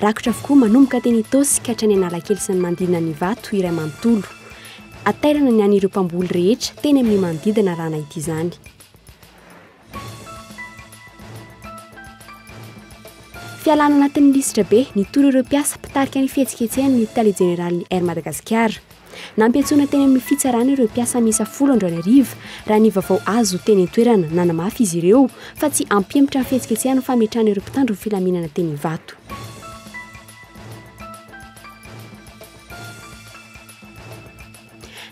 Rakotra avokoa manomboka teny Itaosy ka hatrany Analakely sy ny manodidina ny Ivato iray manontolo. Hatairana ny an'ireo mpamboly rehetra teny amin'ny manodidina raha nahita izany. Fialana anatin'ny lisitra be, nitory ireo mpiasa mpitarika ny fihetsiketsehany ny tale jeneralin'ny Air Madagasikara. Nampiantsoina teny amin'ny fitsarana ireo mpiasa miisa folo androany hariva, raha ny vaovao azo teny an-toerana. Nanamafy izy ireo fa tsy hampihemotra ny fihetsiketsehana ny fametrahana ireo mpitandro ny filaminana teny Ivato.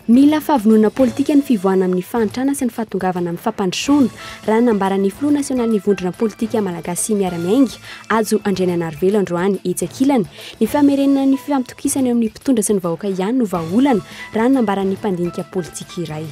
Mila fahavononana politika ny fivoahana amin'ny fahantrana sy ny fahatongavana amin'ny fampandrosoana, raha nambaran'ny filoha nasionalin'ny vondrona politika malagasy miara-miainga, Hajo Andrianainarivelo androany, etsy ankilany, Ny famerenana ny fifampitokisana eo amin'ny mpitondra sy ny vahoaka ihany no vahaolana, raha ny nambaran'ny mpandinika politika iray.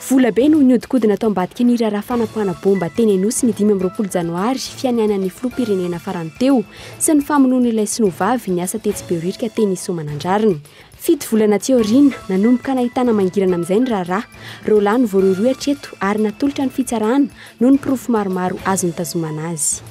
Volabe no nihodinkodina tao ambadiky ny raharaha fanapoahana baomba teny Anosy ny dimy amby roapolo janoary fianianan'ny filoham-pirenena farany teo sy ny famonoan'ilay sinoa vavy niasa tetsy Behoririka teny Soamanandrariny. Fito volana aty aoriana, nanomboka nahitana mangirana amin'izay ny raharaha. Roa lahy no voarohirohy hatreto ary natolotra ny fitsarana noho ny porofo maromaro azo nitazomana azy.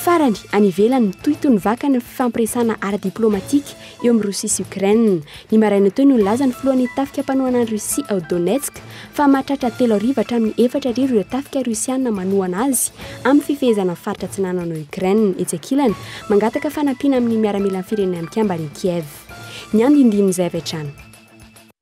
Farany, any ivelany, mitohitohy ny vakany ny fifampiresahana ara-diplaomatika eo amin'ny Rosia sy Ukraine. Ny maraina teo no nilaza ny filohan'ny tafika mpanohana an'i Rosia ao Donetsk fa mahatratra telo hariva hatramin'ny efatra hariva ireo tafika Rosiana manohana azy amin'ny fifehezana ny faritra atsinanana ao Ukraine. Etsy ankilany, mangataka fanampiana amin'ny miaramilan'ny Firenena Mikambana i Kiev. Ny andinindin'izay avy hatrany.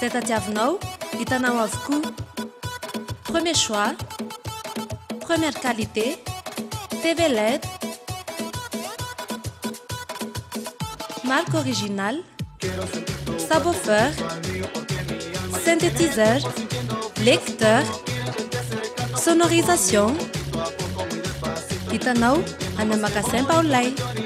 Zay tadiavinao, hitanao avokoa. Premier choix, première qualité, TV LED, marque originale, subwoofer, synthétiseur, lecteur, sonorisation. Hitanao any magasin Paolay.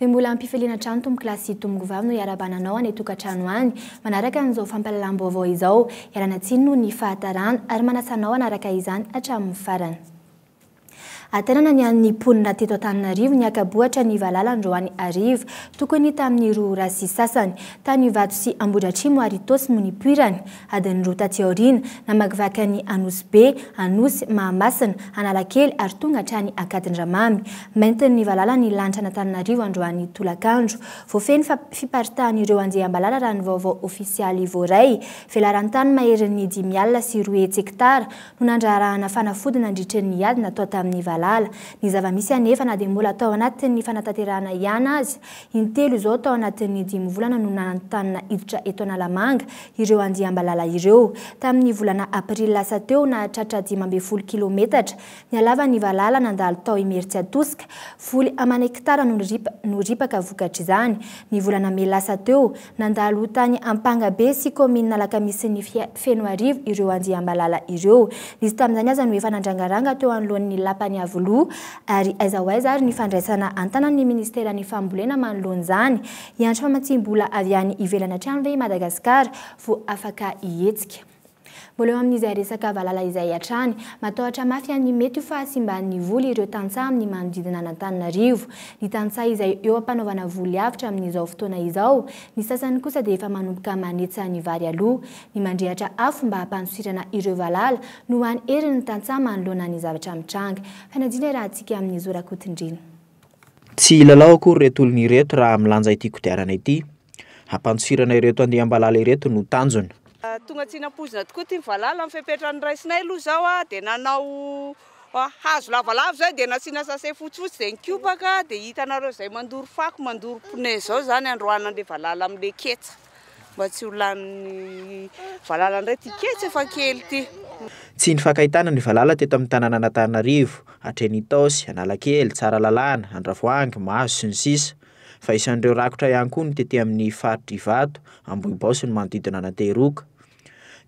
Dia mbola ampifaliana hatrany tompokolahy sy tomokovavy no iarabana anao any tokantrano any. Manaraka an'izao fampahalalam-baovao izao, ialana tsiny noho ny fahatarana ary manasa anao hanaraka izany hatramin'ny farany. Aterana ny an'ny mponina teto Antananarivo ny haka-bohitra ny valala androany hariva. Tokony tamin'ny roa ora sy sasany. Tany Ivato sy Ambohidratrimo ary Itaosy no nipoirany. Adiny roa taty aoriana, namakivaky an'i Anosibe, Anosy, Mahamasina, Analakely ary tonga hatrany Ankadindramamy. Maintin'ny valala ny lanitr'Anatananarivo androany tolakandro. Voafehin'ny fiparitahan'ireo andiam-balala raha ny vaovao ofisialy voaray. Velaran-tany maherin'ny dimy alina sy roa hetsy hektara no nandraharahana fanafody nandritry ny ady natao tamin'ny valala. Ny zava-misy anefa na dia mbola tao anatin'ny fanatanterahana ihany aza, Intelo izao tao anatin'ny dimy volana no nanontanina hiditra eto Analamanga ireo andiam-balala ireo. Tamin'ny volana aprily lasa teo, nahatratra dimy ambin'ny folo kilaometatra ny halavan'ny valala nandalo tao Imeritsiatosika. Voly aman' hektara no ripaka vokatr'izany. Ny volana mey lasa teo, Nandalo tany Ampangabe sy kaominina Alakamisin'ny Fenoarivo ireo andriambalala ireo. Nisy tamin'izany aza no efa nandrangaranga teo anoloan'ny Lapan'i Iavoloha. Ary aiza ho aiza ary ny fandraisana an-tanan'ny minisiteran'ny fambolena manoloana izany? Hiantso famatsiam-bola avy any ivelany hatrany ve i Madagasikara vao afaka hihetsika? Mbola eo amin'izay resaka valala izay hatrany, matahotra mafy an'ny mety ho fahasimban'ny voly ireo tantsaha amin'ny manodidina an'Antananarivo. Ny tantsaha izay eo am-panaovana voly avotra amin'izao fotoana izao, ny sasany kosa dia efa manomboka manetsa ny vary aloha. Ny mandrehatra afo mba hampandosirana ireo valala no hany herin'ny tantsaha manoloana ny zavatra mitranga. Fanadina i Rahatsika amin'i Zo Rakotondriana. Tsy hilalao akory ireto olona ireto raha milanja ity kodiarana ity. Hampantsofirana ireto andiam-balala ireto no tanjona. Tonga tsy nampoizina tokoa ity ny valala amin'ny fepetra noraisinay aloha izao aho dia nanao hazo lavalava izay dia nasiana sase fotsifotsy dia nikopaka dia hitanareo izay mandoro fako mandoro pneu izao izany androany an'ilay valala amin'ilay ketsa. mba tsy ho lanin'ny valala indray ity ketsy efa kely ity. Tsy nifankahitana ny valala teto amin'ny tanànan'Antananarivo, hatreny Itaosy, Analakely, Tsaralalàna, Andravoahangy, Mahazo sy ny sisa Fa isan'ireo rakotra ihany koa ny tety amin'ny faritr'i Ivato, Ambohibao sy ny manodidina an'Antehiroka.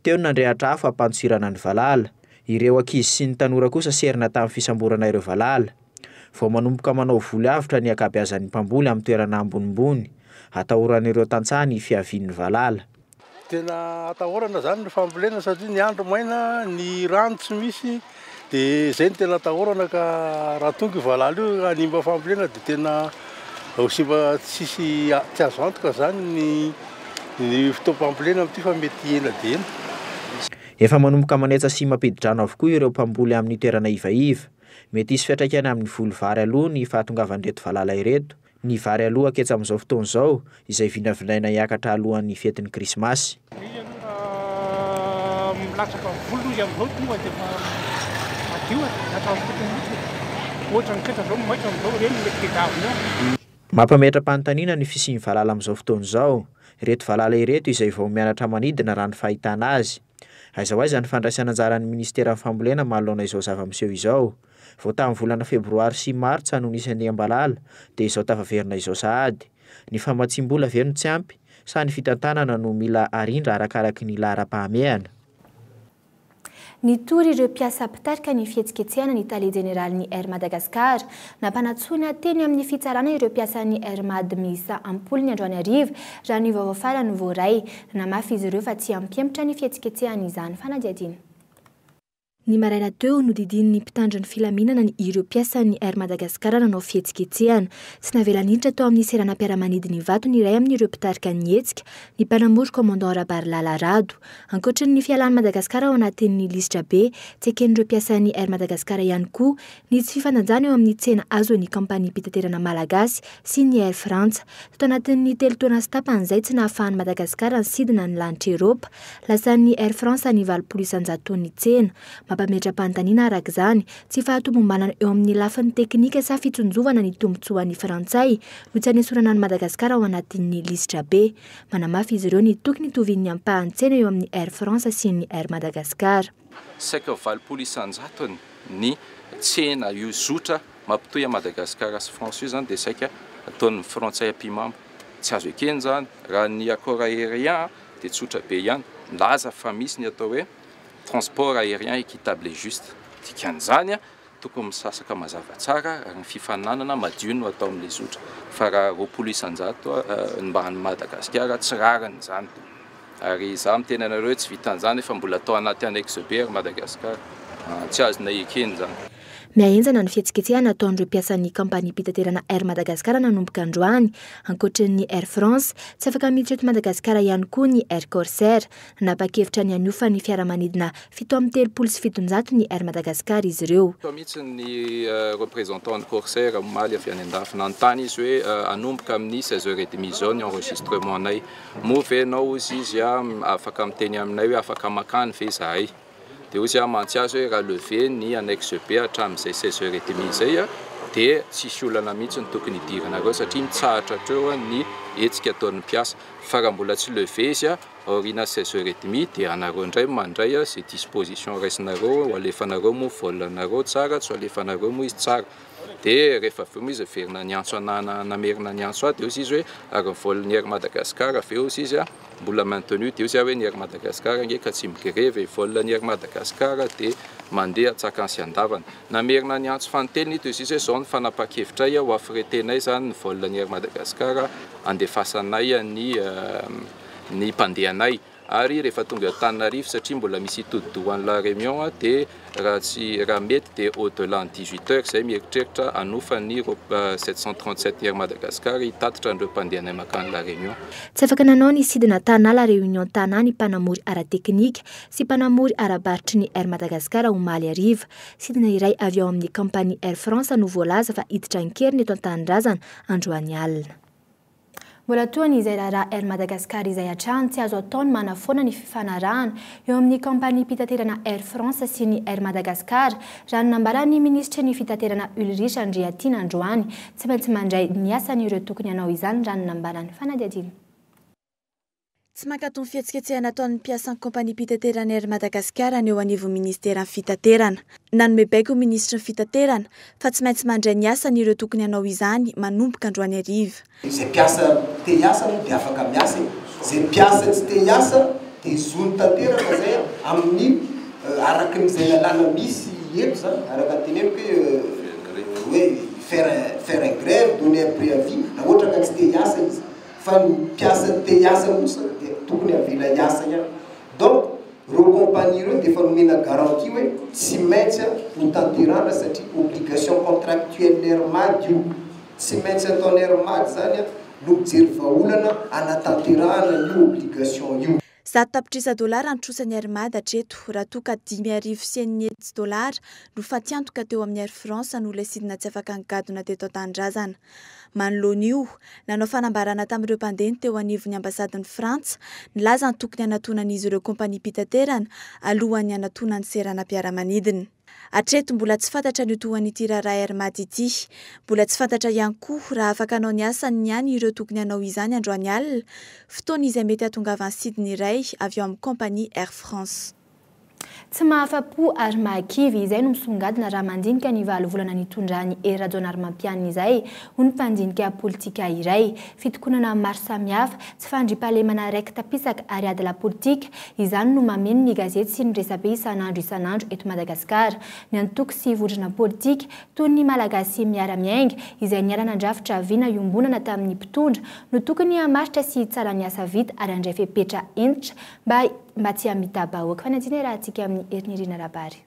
Teo ny nandrehatra afo hampanjohirana ny valala. Ireo ankizy sy ny tanora kosa serina tamin'ny fisamborana ireo valala. Vao manomboka manao voly avotra ny ankabeazan'ny mpamboly amin'ny toerana ambonimbony, atahoran'ireo tantsaha ny fiavian'ny valala. Tena atahorana izany ny fambolena satria ny andro maina, ny rano tsy misy dia izay no tena atahorana ka raha tonga io valala io hanimba fambolena dia tena ho simba tsisy tsy azo antoka izany ny ny fotoam-pambolena amin'ity fa mety ela dia ela. Efa manomboka manetsa sy mampidi-drano avokoa ireo mpamboly amin'ny toerana ivaiva. Mety hisy fiantraikany amin'ny voly vary aloha ny fahatongavan'ireto valala ireto, ny vary alohako etsy amin'izao fotoana izao, izay vinavinaina hiakatra alohan'ny fetin'ny Krismasy. Ny aloha raha milatsaka voly hoy izy amin'izao tonga dia efa madio e, milatsaka amin'ny fotony mihitsy e. Tsy ohatra ny fetra izao ny maitso amin'izao ireny no mety tedavina eo. Mampametra-panontaniana ny fisian'ny valala amin'izao fotoana izao. Ireto valala ireto izay vao mianatra manidina raha ny fahitana azy. Aiza ho aiza ny fandraisan'anjaran'ny minisiteran'ny fambolena manoloana izao zava-miseho izao? Vao tamin'ny volana febroary sy martsa no nisy an'i Ambalala dia izao tafaverina izao sahady. Ny famatsiam-bola ve no tsy ampy sa ny fitantanana no mila arindra arakaraky ny laharam-pahamehana? Nitory ireo mpiasa mpitarika ny fihetsiketsehana ny tale jeneralin'ny Air Madagascar, Nampanantsoina teny amin'ny fitsarana ireo mpiasan'ny Air Mad miisa am-polony androany hariva, raha ny vaovao farany voaray. Nanamafy izy ireo fa tsy hampihemotra ny fihetsiketsehana izany fanadihadiana. Ny maraina teo, nodidian'ny mpitandro ny filaminana ny ireo mpiasan'ny Air Madagascar nanao fihetsiketsehana. Tsy navela niditra tao amin'ny seranam-piaramanidina Ivato ny iray amin'ireo mpitarika ny hetsika, ny mpanamory Commandant Rabarilala Rado. Ankoatry ny fialan'i Madagasikara ao anatin'ny lisitrabe, tsy eken'ireo mpiasan'ny Air Madagascar ihany koa Nisy fifanajana eo amin'ny tsena azon'ny kaompaniam-pitaterana malagasy sy ny Air Frantsa. Tato anatin'ny telo taona sy tapany izay tsy nahafahan'i Madagasikara nisidina ny lanitra Eropa. Lasan'ny Air Frantsa ny valopolo isan-jaton'ny tsena. Mampametra-panontaniana araka izany, tsy fahatomombanana eo amin'ny lafiny teknika sa fitsinjovana ny tombontsoan'ny Frantsay no tsy anesorana an'i Madagasikara ao anatin'ny lisitra be. Manamafy izy ireo ny tokony tovian'ny ampahan-tsena eo amin'ny Air Frantsa sy ny Air Madagascar. Saika valopolo isanjatony ny tsena io zotra mampitohy an'i Madagasikara sy France io izany dia saika ataon'ny frantsay mpimamo. Tsy azo ekena izany. Raha ny accord aérien dia tsotra be ihany. Milaza fa misy ny atao hoe transport aérien équitable et juste. Dikan'izany Tokony misasaka mazava tsara ary ny fifaninanana madio no atao amin'ilay zotra fa raha roapolo isan-jato ny mba an'i Madagasikara tsy rariny izany ary izaho miteny anareo hoe tsy vitan'izany efa mbola atao anaty annexe be ry Madagasikara tsy azonay ekena izany. Mihahenjana ny fihetsiketsehana ataon'ireo mpiasan'ny kaompaniam-pitaterana Air Madagascar nanomboka androany. Ankoatry ny Air France, tsy afaka miditra eto Madagasikara ihany koa ny Air Corsair. Nanapa-kevitra ny hanofa ny fiaramanidina fito amby telopolo sy fitonjato ny Air Madagascar izy ireo. Tao mihitsy ny représentant an'ny Corsair omaly avy any an-dafy. Nanontany izy hoe hanomboka amin'ny seize heures et demie izao ny enregistrement-nay. Moa ve ianao, hozy izy, afaka miteny aminay hoe afaka makany ve izahay? Dia hoy aho mantsy azy hoe raha lever ny annexe B hatramin'izay seize heures et demie izay dia tsisy olana mihitsy no tokony hidiranareo satria mitsahatra hatreo ny hetsika ataon'ny mpiasa. Fa raha mbola tsy lever izy aoriana seize heures et demie dia anareo indray mandray izay disposition raisinareo ho alefanareo moa vol anareo tsara tsy ho alefanareo moa izy tsara. Dia rehefa avy eo moa izy niverina niantso anah namerina niantso ahy dia hoy izy hoe ary ny vol-n'ny Air Madagascar ve hoy izy. Mbola maintenu dia eo zay hoe ny Air Madagascar ange ka tsy migrevy e, vol ny Air Madagascar dia mandeha an-tsakany sy an-davany. Namerina ny antso fanintelony ito izy hoe zao ny fanapahan-kevitray ho affreter-nay zany ny vol ny Air Madagascar handefasanay ny ny mpandehanay ary rehefa tonga Antananarivo satria mbola misy hitodi-doha any La Reunion dia Raha tsy raha mety dia au delà ny dix huit heures izay mieritreritra hanofa ny roa sept cent trente sept Air Madagascar hitatitra an'ireo mpandeha anay mankany La Réunion. Tsy afaka nanao ny sidina Tana La Réunion Tana ny mpanamory ara-teknika sy mpanamory ara-barotra ny Air Madagascar omaly hariva. Sidina iray avy ao amin'ny kaompania Air France no voalaza fa hiditra an-keriny eto an-tanindrazana androany alina. Mbola toa ny izay raharaha Air Madagascar izay hatrany tsy azo atao ny manafoana ny fifanarahana eo amin'ny kaompaniam-pitaterana Air France sy ny Air Madagascar, raha ny nambaran'ny minisitry ny fitaterana Ulrich Andriatiana androany. Tsy maintsy mandray ny asany ireo tokony hanao izany raha ny nambaran'ny fanadihadiana. Tsy mankato ny fihetsiketsehana ataon'ny mpiasan'ny kaompaniam-pitateran'ny Air Madagascar ny eo anivon'ny minisiteran'ny Fitaterana. Nanome baiko ny minisitry ny Fitaterana fa tsy maintsy mandray ny asany ireo tokony hanao izany manomboka androany hariva. Izay mpiasa te hiasa aloha dia afaka miasa e! Izay mpiasa tsy te hiasa dia zony tanteraka izay amin'ny araka ny izay lalàna misy eto izany, araka ny teneniko hoe faire faire grève, donner un préavis raha ohatra ka tsy te hiasa izy. fa ny mpiasa te hiasa kosa dia tokony avela hiasa ihany donc reo compagnie reo dia efa nomena garantie hoe tsy maintsy ho tanterahana satria obligation contractuelle air mad io tsy maintsy ataony air mad zany no mijery vahaolana hanatanterahana io obligation io. Zato tapitrisa dolara nitrosan'i Air Mad hatreto, raha toa ka dimy arivo sy enina hetsy dolara no fatiantoka teo amin'ny Air France no ilay sidina tsy afaka nigadona teto an-tanindrazana. Manoloana io, nanao fanambarana tamin'ireo mpandeha ny teo anivon'ny ambasadin'i Frantsa, nilaza ny tokony hanatonan'izy ireo kompaniam-pitaterana alohan'ny hanatonany seranam-piaramanidina. Hatreto, mbola tsy fantatra ny ho tohan'ity raharaha Air Mat ity. Mbola tsy fantatra ihany koa raha afaka hanao ny asany ny any ireo tokony hanao izany androany alina, fotoana izay mety hahatongavan'ny sidina iray avy ao amin'ny kompania Air France. Tsy mahafa-po ary mahakivy, izay no misongadina raha mandinika ny valo volana nitondran'i Hery Rajaonarimampianina izay ho ny mpandinika politika iray. Fitokonana maro samihafa, tsy fandriampahalemana raiki-tapisaka ary ady lapolitika, izany no mameno ny gazety sy ny resabe isan'andro isan'andro eto Madagasikara. Ny antoko sy vondrona politika, toy ny Malagasy Miara-Miainga, izay niara-nandrafitra vina iombonana tamin'ny mpitondra, no tokony hamaritra sy hitsara ny asa vita ary handray fepetra hentitra Mba mba tsy hamita-bahoaka. Fanajina iarahantsika amin'ny Herinirina Rabary.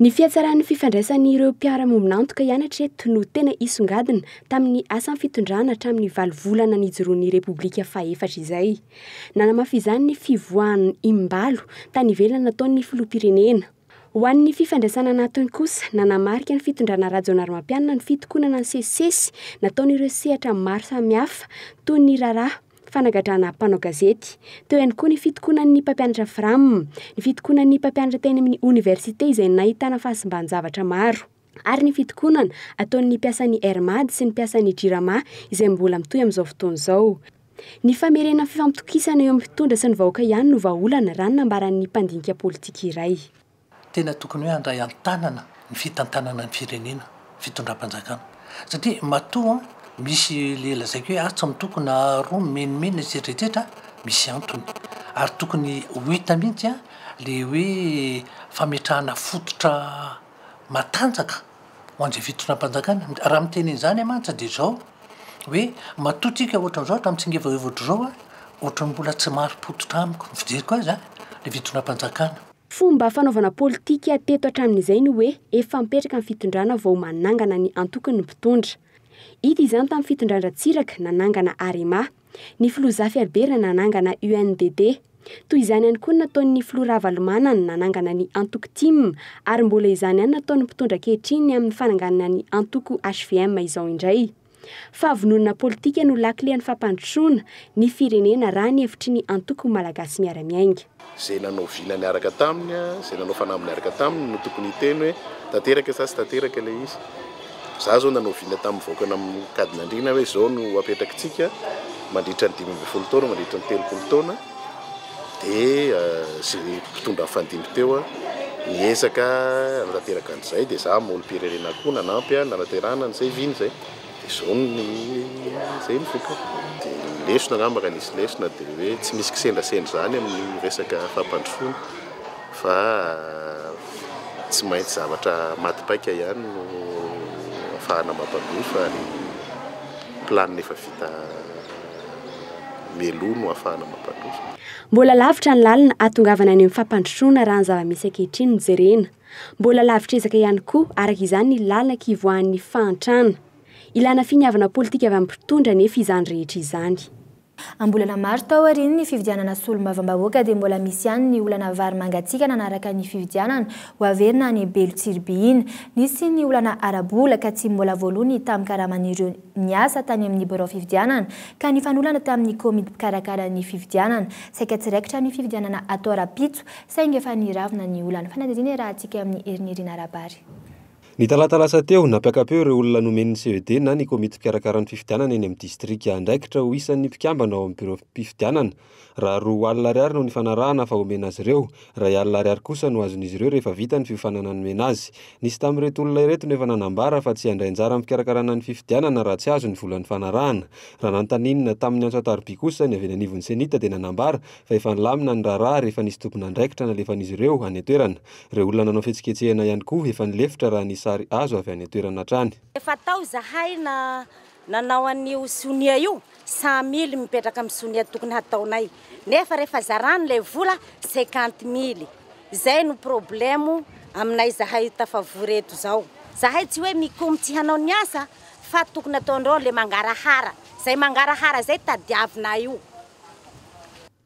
Ny fihatsaran'ny fifandraisan'ireo mpiara-miombon'antoka ihany hatreto no tena isongadina tamin'ny asan'ny fitondrana hatramin'ny valo volana nijoroan'ny Repoblika fahefatra izay. Nanamafy izany ny fivoahan'ny Imbalo tany ivelany nataon'ny Filoham-pirenena. Ho an'ny fifandraisana anatiny kosa, nanamarika ny fitondrana Rajaonarimampianina ny fitokonana ny sesisesy nataon'ireo sehatra maro samihafa toy ny raharaha fanagadrana mpanao gazety. Teo ihany koa ny fitokonan'ny mpampianatra Fram, ny fitokonan'ny mpampianatra teny amin'ny oniversite izay nahitana fahasimban-javatra maro, ary ny fitokonana ataon'ny mpiasan'ny Air Mad sy ny mpiasan'ny Jirama izay mbola mitohy amin'izao fotoana izao. Ny famerenan'ny fifampitokisana eo amin'ny mpitondra sy ny vahoaka ihany no vahaolana, raha ny nambaran'ny mpandinika politika iray. Tena tokony hoe handray an-tanana ny fitantanana ny firenena fitondram-panjakana satria matoa misy le lazaiko hoe atsy mitoko na aroa mimenomenona etsetra etsetra misy antony ary tokony ho hita mihitsy a le hoe fametrahana fototra matanjaka ho an'izay fitondram-panjakana raha miteny an'izany mantsy dia zao hoe matoa tsika ohatra an'izao hatramin'ny tsingevana ohatra izao a ohatran'ny mbola tsy marim-pototra amiko ny fijeriko azy a le fitondram-panjakana Fomba fanaovana politika teto hatramin'izay ny hoe efa mipetraka ny fitondrana vao manangana ny antokony ny mpitondra. Hita izany tamin'ny fitondran-dRatsiraka nanangana Arema. Ny filoha Zafiaribera nanangana UNDD. Toy izany ihany koa ny nataon'ny filoha Ravalomanana nanangana ny antoko tim ary mbola izany ihany nataon'ny mpitondra ankehitriny amin'ny fananganana ny antoko hvm izao indray. Fahavononana politika no lakilen'ny fampandrosoana ny firenena raha ny hevitry ny Antoko Malagasy Miara-Miainga. Izay nanao vina niaraka taminy, izay nanao fanamby niaraka taminy no tokony hiteny hoe tanteraka sa tsy tanteraka ilay izy. Izaho izao nanao vina tamin'ny vahoaka nankadin'andriana hoe izao no ho apetrakitsika mandritra ny dimy ambin'ny folo taona, mandritra ny telopolo taona. dia sy ny mpitondra nifandimby teo niezaka nanatanteraka an'izay dia za molom-pirenena koa nanampy nanaterana an'izay vina izay dia zao ny izay ny vokany dia ny lesona angamba raha nisy lesona dia hoe tsy misy kisendrasendra izany amin'ny resaka fampandrosoana fa tsy maintsy zavatra maty paika ihany no afahana mampandroso ary planina efa vita meloa no ahafahana mampandroso. Mbola lavitra ny lalana hahatongavana any amin'ny fampandrosoana raha ny zava-misy ankehitriny no jerena. Mbola lavitr'ezaka ihany koa, araka izany, ny lalana kivoahan'ny fahantrana. Ilana finiavana politika avy amin'ny mpitondra anefa izany rehetra izany. Am-bolana maro tao aorian'ny fifidianana solombavambahoaka dia mbola misy ihany ny olana vary mangatsiaka nanaraka ny fifidianana ho averina any Belo Tsiribihina. Nisy ny olana ara-bola ka tsy mbola voaloa ny tamin-karaman'ireo niasa tany amin'ny birao fifidianana ka nifanolana tamin'ny komity mpikarakara ny fifidianana. Saika tsy raikitra ny fifidianana atao rahampitso saingy efa niravona ny olan'ny fanadihadiana iarahantsika amin'ny Erinirina Arabary. Ny talata lasa teo, nampiaka-peo ireo olona nomen'ny CED na ny komity mpikarakara ny fifidianana eny amin'ny distrika andraikitra ho isan'ny mpikambana ao amin'ny birao fifidianana, Raha roa alina ariary no nifanarahana fa homena azy ireo. Iray alina ariary kosa no azon'izy ireo rehefa vita ny fiofanana nomena azy. Nisy tamin'ireto olona ireto no efa nanambara fa tsy handray anjara amin'ny fikarakarana ny fifidianana raha tsy azo ny vola nifanarahana. Raha nanontanina tamin'ny antso an-tarobia kosa ny avy eny anivon'ny Cenit dia nanambara fa efa nilamina ny raharaha rehefa nisy tompon'andraikitra nalefan'izy ireo any an-toerana. Ireo olona nanao fihetsiketsehana ihany koa efa nilefitra raha ny sary azo avy any an-toerana hatrany. Efa tao izahay na. Nanao an'io sonia io cent mille mipetraka amin'ny sonia tokony hataonay nefa rehefa zarany ilay vola cinquante mille izay no problemo aminay zahay tafavory eto izao. Zahay tsy hoe mikomy tsy hanao ny asa fa tokony ataonreo le mangarahara zay mangarahara zay tadiavinay io.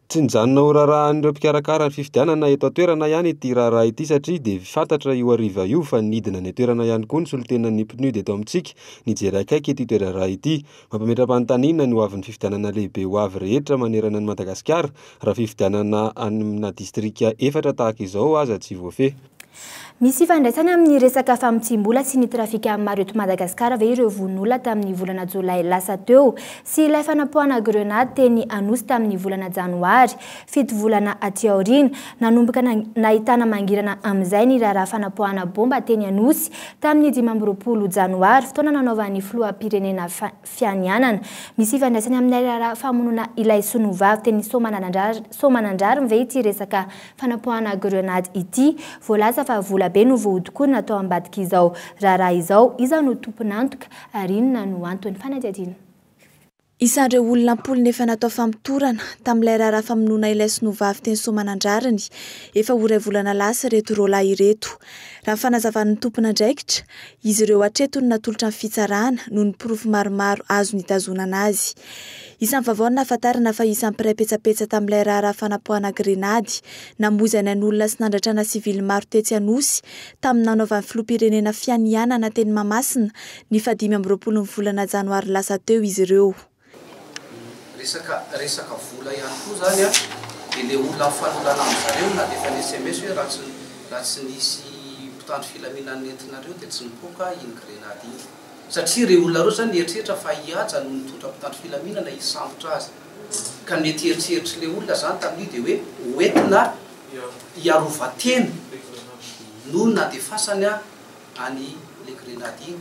Tsy nijanona ho raharahan'ireo mpikarakara ny fifidianana eto an-toerana ihany ity raharaha ity satria dia fantatra io hariva io fa nidina any an-toerana ihany koa ny solontenan'ny PNUD eto amintsika nijery akaiky ity toerarah ity. Mampametra-panontaniana ny hoavin'ny fifidianana lehibe ho avy rehetra manerana an'i Madagasikara raha fifidianana amina distrika efatra tahaka izao aza tsy voafehy. Misy ifandraisany amin'ny resaka famotsiam-bola sy ny trafika maro eto Madagasikara ve ireo vono-olona tamin'ny volana jolay lasa teo sy ilay fanapoahana grenady teny Anosy tamin'ny volana janoary, fito volana aty aoriana? Nanomboka nahitana mangirana amin'izay ny raharaha fanapoahana bomba teny Anosy tamin'ny dimy amby roapolo janoary, fotoana nanaovan'ny filoham-pirenena fianianana. Misy ifandraisany amin'ilay raharaha famonoana ilay sonovavy teny Soamananandrary Soamanandrary ve ity resaka fanapoahana grenady ity? Voalaza fa vola be no vohodokona tao ambadik'izao raharaha izao. Iza no tompon'antoka ary inona no antony? Fanadihadiana. Isan'ireo olona am-polony efa natao famotorana tamin'ilay raharaha famonoana ilay sonovavy teny Soamanandrary ny efa ho iray volana lasa ireto roalahy ireto. Raha ny fanazavan'ny tompon'andraikitra, Izy ireo hatreto no natolotra ny fitsarana noho ny porofo maromaro azo nitazonana azy. Isan'ny vaovao nahafantarana fa isan'ny mpiray petsapetsa tamin'ilay raharaha fanapoahana grenady namoizany an'olona sy nandratrana sivily maro tetsy Anosy tamin'ny nanaovan'ny filoham-pirenena fianianana teny Mahamasina ny fahadimy amby roapolon'ny volana janoary lasa teo izy ireo. Resaka resaka vola ihany koa izany an, dia ilay olona mifanolana amin'izareo na dia efa ni-sms hoe raha tsy raha tsy nisy mpitandro filaminana nentinareo dia tsy nipoaka iny grenady iny. Satria ireo olona ireo izany nieritreritra fa i Haja no nitondra mpitandro filaminana hisambotra azy. Ka ny mety hieritreritrin'ilay olona izany tamin'io dia hoe ho entina hiarovan-tena no nandefasany an'ilay grenady iny.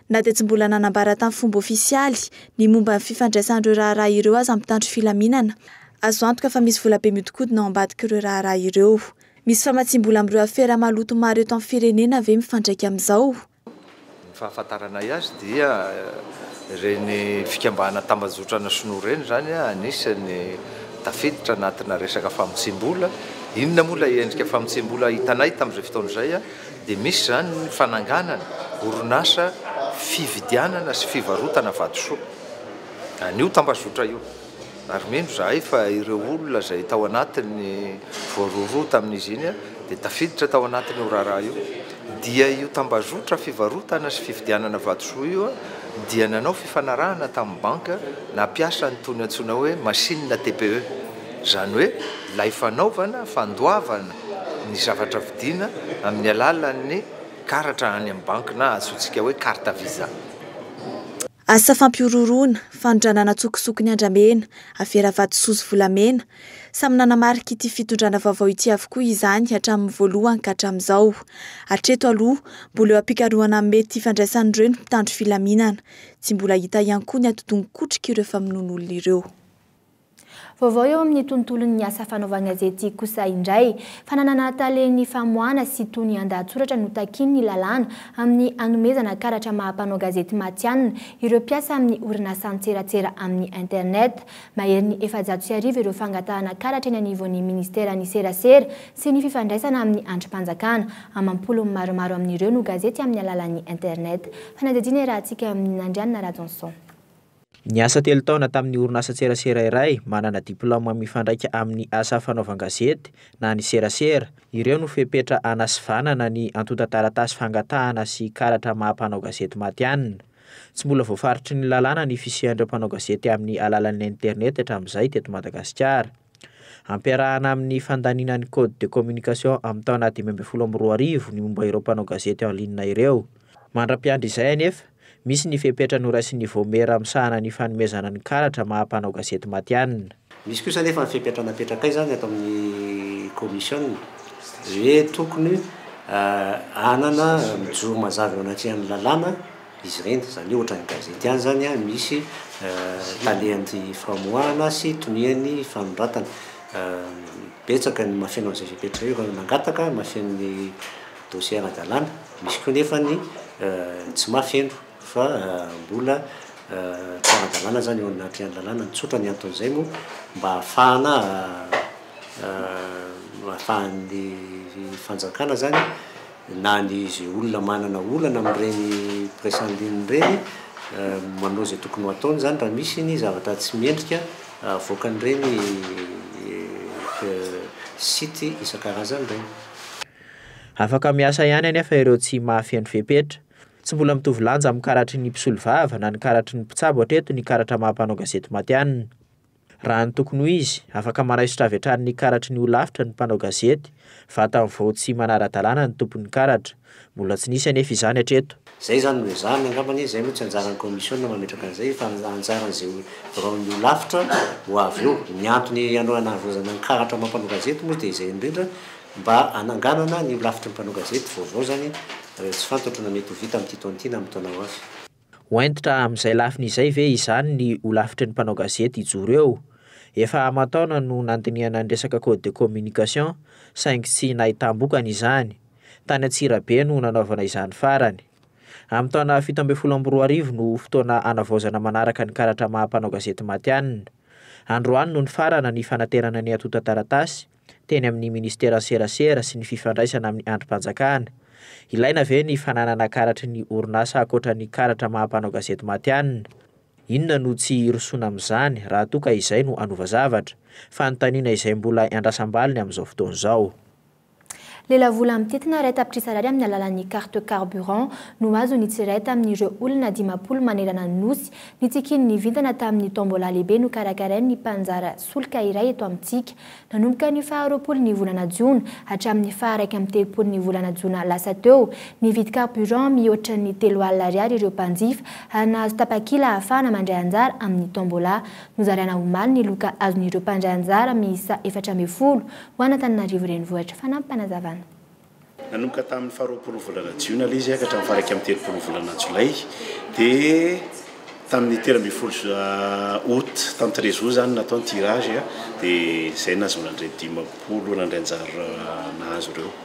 Na dia tsy mbola nanambara tamin'ny fomba ofisialy ny momba ny fifandraisan'ireo raharaha ireo aza ny mpitandro filaminana, azo antoka fa misy vola be mihodinkodina ao ambadik'ireo raharaha ireo. Misy famatsiam-bola amin'ireo afera maloto maro eto amin'ny firenena ve mifandraika amin'izao? Ny fahafantaranay azy dia ireny fikambana tambajotrana sinoa ireny izany anisan'ny tafiditra anatina resaka famotsiam-bola. Inona moa ilay endrika famotsiam-bola hitanay tamin'izay fotoana izay? dia misy izany ny fananganana orinasa fividianana sy fivarotana vatosoa an'io tambazotra io, ary mino izahay fa ireo olona izay tao anatiny, voarohirohy tamin'izy iny, dia tafiditra tao anatin'io raharaha io, dia io tambazotra fivarotana sy fividianana vatosoa io dia nanao fifanarahana tamin'ny banky nampiasa an'itony antsoina hoe machine TPE, izany hoe ilay fanaovana, fandoavana, ny zavatra vidiana amin'ny alalan'ny karatra any amin'ny banky na antsointsika hoe carte visa. Asa fampihorohoroana, fanondranana an-tsokosoko ny andramena, avera vatosoa sy volamena. Samy nanamarika ity fitondrana vaovao ity avokoa izany hatramin'ny voalohany ka hatramin'izao. Hatreto aloha, mbola eo am-pikarohana ny mety hifandraisan'ireo ny mpitandro filaminana. Tsy mbola hita ihany koa ny atidoha mikotrika ireo famonoan'olona ireo. Vaovao eo amin'ny tontolon'ny asa fanaovan-gazety kosa indray. Fananana tale ny famoahana sy tony an-dahatsoratra no takian'ny lalàna amin'ny hanomezana karatra maha mpanao gazety matihanina ireo mpiasa amin'ny orinasa an-tserasera amin'ny internet. Maherin'ny efajato sy arivo ireo fangatahana karatra eny anivon'ny minisiteran'ny serasera sy ny fifandraisana amin'ny andrim-panjakana. Amam-polony maromaro amin'ireo no gazety amin'ny alalan'ny internet. Fanadihadiana iarahantsika amin'i Nandrianina Rajonson. Niasa telo taona tamin'ny orinasa-tserasera iray manana diplaoma mifandraika amin'ny asa fanaovan-gazety na ny serasera. Ireo no fepetra hanasivanana ny antontan-taratasy fangatahana sy karatra maha mpanao gazety matihanina. Tsy mbola voafaritry ny lalàna ny fisian'ireo mpanao gazety amin'ny alalan'ny internet hatramin'izay teto Madagasikara. Ampiarahana amin'ny fandaniana ny Code de communication amin'ny taona dimy ambin'ny folo amby roa arivo ny momba ireo mpanao gazety en ligne ireo. Mandra-piandry izay anefa, misy ny fepetra noraisin'ny Vaomiera misahana ny fanomezana ny karatra maha mpanao gazety matihanina. Misy kosa anefa ny fepetra napetrakay izany ato amin'ny kaomisiona hoe tokony hanana mijoro mazava eo anatrehan'ny lalàna izy ireny. Izany hoe ohatran'ny gazety ihany izany, misy talehan'ny famoahana sy tonian'ny fanoratana. Betsaka ny mahafeno an'izay fepetra io, ireo mangataka mahafeno ny. Dossier ara-dalàna, misy koa nefa ny tsy mahafeno fa mbola tsy ara-dalàna zany eo anatrehan'ny lalàna, ny tsotra ny anton'izay moa mba hahafahana ahafahan'ny fanjakana zany na ny izay olona manana olana amin'ireny presse en ligne ireny manao izay tokony ho ataony zany raha misy ny zavatra tsy mendrika avoakan'ireny site isan-karazany ireny. Afaka miasa ihany anefa ireo tsy mahafeno fepetra. Tsy mbola mitovy lanja amin'ny karatry ny mpisolovava na ny karatry ny mpitsabo hatreto ny karatra maha mpanao gazety matihanina. Raha ny tokony ho izy, afaka manaisotra avy hatrany ny karatry ny holafitra ny mpanao gazety, vatany vao tsy manara-dalàna ny tompon'ny karatra. Mbola tsy nisy anefa izany hatreto. Izay izany no ezahany angambany e, izay moa tsy anjaran'ny kaomisiona mametraka an'izay fa anjaran'izay biraon'ny holafitra ho avy eo. Ny antony hanao hanavoazana ny karatra maha mpanao gazety moa dia izay indrindra mba hananganana ny holafitry ny mpanao gazety vaovao izany raha tsy fantatro na mety ho vita amin'ity taona ity na amin'ny taona ho avy. Ho hentitra amin'izay lafiny izay ve izany ny holafitry ny mpanao gazety hijoro eo? Efa aman-taona no nandinihana ny resaka code de communication saingy tsy nahitam-bokany izany. tany Antsirabe no nanaovana izany farany. Amin'ny taona fito ambin'ny folo amby roa arivo no ho fotoana hanavaozana manaraka ny karatra maha mpanao gazety matihanina. Androany no nifarana ny fanaterana ny antontan-taratasy teny amin'ny minisiteran'ny serasera sy ny fifandraisana amin'ny andrim-panjakana. Ilaina ve ny fananana karatry ny orinasa ankoatra ny karatra maha mpanao gazety matihanina? Inona no tsy hirosoana amin'izany raha toa ka izay no hanova zavatra? Fanontaniana izay mbola iandrasam-baliny amin'izao fotoana izao. Lelavola mitentina iray tapitrisa Ariary amin'ny alalan'ny carte carburant no azon'ny tsirairay tamin'ireo olona dimampolo manerana ny Nosy. Ny tsikin'ny vintana tamin'ny tombola lehibe nokarakarain'ny mpanjara solika iray eto amintsika. Nanomboka ny faha roapolo ny volana jiona hatramin'ny faha iraika amby telopolo ny volana jona lasa teo, nividy carburant mihoatra ny telo alina Ariary ireo mpanjifa ary nahazo tapakila ahafahana mandray anjara amin'ny tombola. Nozaraina omaly ny loka azon'ireo mpandray anjara miisa efatra ambin'ny folo Ho an'Antananarivo Renivohitra, fanampy fanazavana. Nanomboka tamin'ny faharoapolo volana jiona ilay izy ka hatramin'ny faha-iraika amby telopolo volana jolay, dia tamin'ny telo ambin'ny folo aout tamin'ny treize aout izany no natao ny tirage dia izay no nahazoana an'ireo dimampolo nandray anjara nahazo ireo.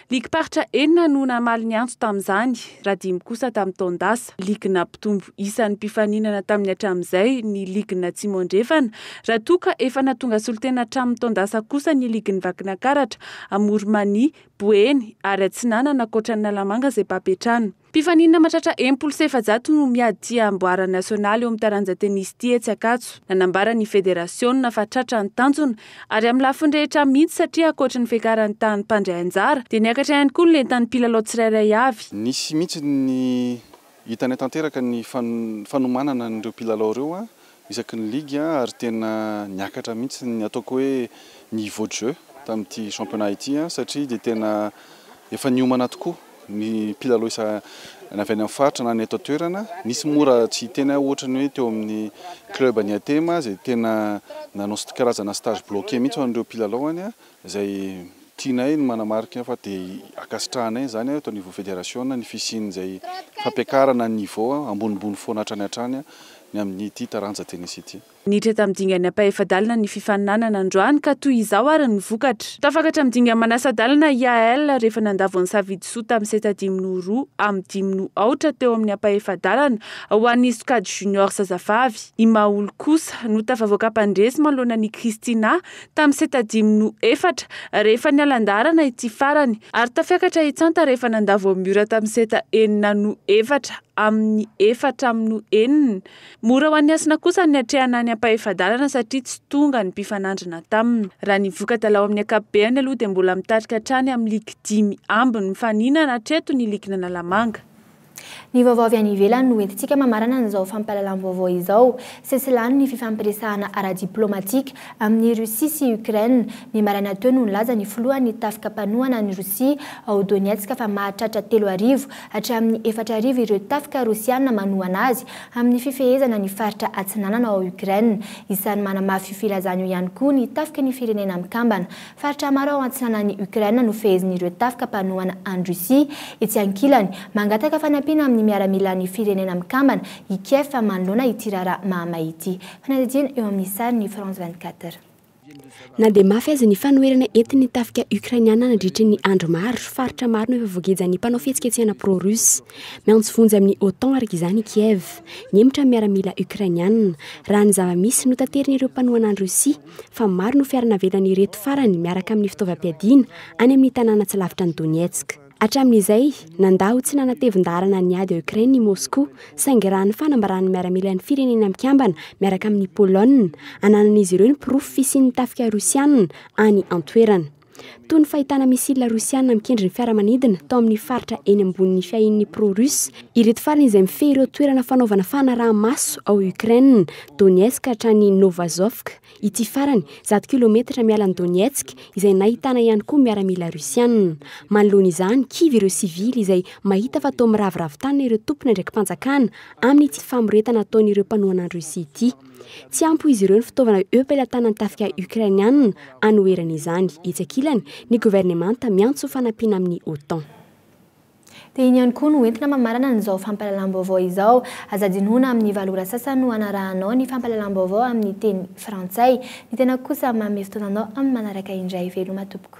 Ligim-paritra enina no namaly ny antso tamin'izany, raha dimy kosa tamin'ny taon-dasa. Ligina mpitombo isan'ny mpifaninana tamin'ny hatramin'izay ny Ligina Atsimo Andrefana, raha toa ka efa nahatonga solontena hatramin'ny taon-dasa kosa ny Ligin'i Vakinakaratra, Amorimania, Boeny ary Atsinanana ankoatra an'Analamanga izay baby hatrany. Mpifaninana mahatratra enimpolo sy efajato no miady tsy hamboara nasionaly eo amin'ny taranja tenisy ity etsy Ankatso. Nanambara ny federasiona fa tratra ny tanjona ary amin'ny lafiny rehetra mihitsy satria ankoatry ny fiakaran'ny tahan'ny mpandray anjara dia niakatra ihany koa ny lentan'ny mpilalao tsirairay avy. Nisy mihitsy ny hitanay tanteraka ny fanomanana an'ireo mpilalao ireo isaky ny ligue ary tena niakatra mihitsy ny ataoko hoe niveau de jeu tamin'ity championnat ity satria dia tena efa niomana tokoa ny mpilalao isa na avy any amin'ny faritra na ny eto an-toerana. Nisy moa raha tsy hiteny aho ohatra ny hoe teo amin'ny club an'i Atema izay tena nanao karazana stage bloqué mihitsy ho an'ireo mpilalaony izay tianay ny manamarika fa dia ankasitrahanay izany eto anivon'ny federasiona ny fisian'izay fampiakarana ny niveau ambonimbony foana hatrany hatrany ny amin'ity taranja tennis ity. Niditra tamin'ny dingana ampahefa-dalana ny fifaninanana androany ka toy izao ary ny vokatra. Tafakatra amin'ny dingana manasa-dalana i AL rehefa nandavo an'i Savidy Soa tamin'ny seta dimy noho roa amin'ny dimy noho aotra teo amin'ny ampahefa-dalana ho an'ny sokajy junior zazavavy. I Maholy kosa no tafavoaka mpandresy manoloana an'i Christina tamin'ny seta dimy no efatra rehefa niala an-daharana ity farany ary tafiakatra hitsanta rehefa nandà Vomiora tamin'ny seta enina no efatra amin'ny efatra amin'ny no enina. Mora ho an'ny Hasina kosa ny niatrehana ny ampahefa-dalana satria tsy tonga ny mpifanandrina taminy. Raha ny voka-dalao amin'ny ankapobeany aloha dia mbola mitarika hatrany amin'ny ligy dimy ambiny mifaninana hatreto ny ligin'Analamanga. Ny vaovao avy any ivelany no entintsika mamarana an'izao fampahalalam-baovao izao. Sesilany ny fifampiresahana ara-diplaomatika amin'i Russie sy Ukraine. Ny maraina teo no nilaza ny filohan'ny tafika mpanohana an'i Rosia ao Donetsk fa mahatratra telo arivo hatramin'ny efatra arivo ireo tafika Rosiana manohana azy amin'ny fifehezana ny faritra atsinanana ao Ukraine. Isan'ny manamafy io filazana io ihany koa ny tafiky ny Firenena Mikambana Faritra maro ao antsinanan'i Ukraine no fehezin'ireo tafika mpanohana an'i Russie. Etsy ankilany, mangataka fanampiana amin'ny miaramilan'ny Firenena Mikambana i Kiev manoloana ity raharaha mahamay ity. Fanadihadiana eo amin'ny sarin'i France 24. Na dia mafy aza ny fanoherana entin'ny tafika Ukrainiana nandritry ny andro maro, faritra maro no efa voagejan'ny mpanao fihetsiketsehana pro-Russe. Miantso vonjy amin'ny OTAN araka izany i Kiev, mihemotra amin'ny miaramila Ukrainiana, raha ny zava-misy notaterin'ireo mpanohana an'i Russie. fa maro no fiara navelan'ireto farany miaraka amin'ny fitaovam-piadiana any amin'ny tanàna tsy lavitra an'i Donetsk. Hatramin'izay, nandà ho tsy nanatevin-daharana ny ady ao Ukraine i Moscou, saingy raha ny fanambaran'ny miaramilan'ny Firenena Mikambana miaraka amin'i Polonina, ananan'izy ireo ny porofo fisian'ny tafika Rosiana any an-toerana. Toy ny fahitana missiles rosiana mikendry ny fiaramanidina tao amin'ny faritra eny ambonin'ny fiahian'ny pro-russe ireto farany izay mifehy ireo toerana fanaovana fanaraha-maso ao Ukraine, Donetsk hatrany Novazovsk, ity farany, zato kilometatra miala an'i Donetsk, izay nahitana ihany koa miaramila rosiana. Manoloana izany, kivy ireo sivily izay mahita fa toa miraviravy tanana ireo tompon'andraiki-panjakana amin'ity famoretana ataon'ireo mpanohana an'i Russie ity. Tsy ampy ho izy ireo ny fitaovana eo am-pelatanan'ny tafika Ukrainiana anoherana izany. Etsy ankilany, ny governemanta miantso fanampiana amin'ny OTAN. Dia iny ihany koa no entina mamarana an'izao fampahalalam-baovao izao. Aza adinoina amin'ny valo ora sasany no hanarahanao ny fampahalalam-baovao amin'ny teny frantsay. Ny tenako kosa manome fotoana anao amin'ny manaraka indray. Veloma tompoko.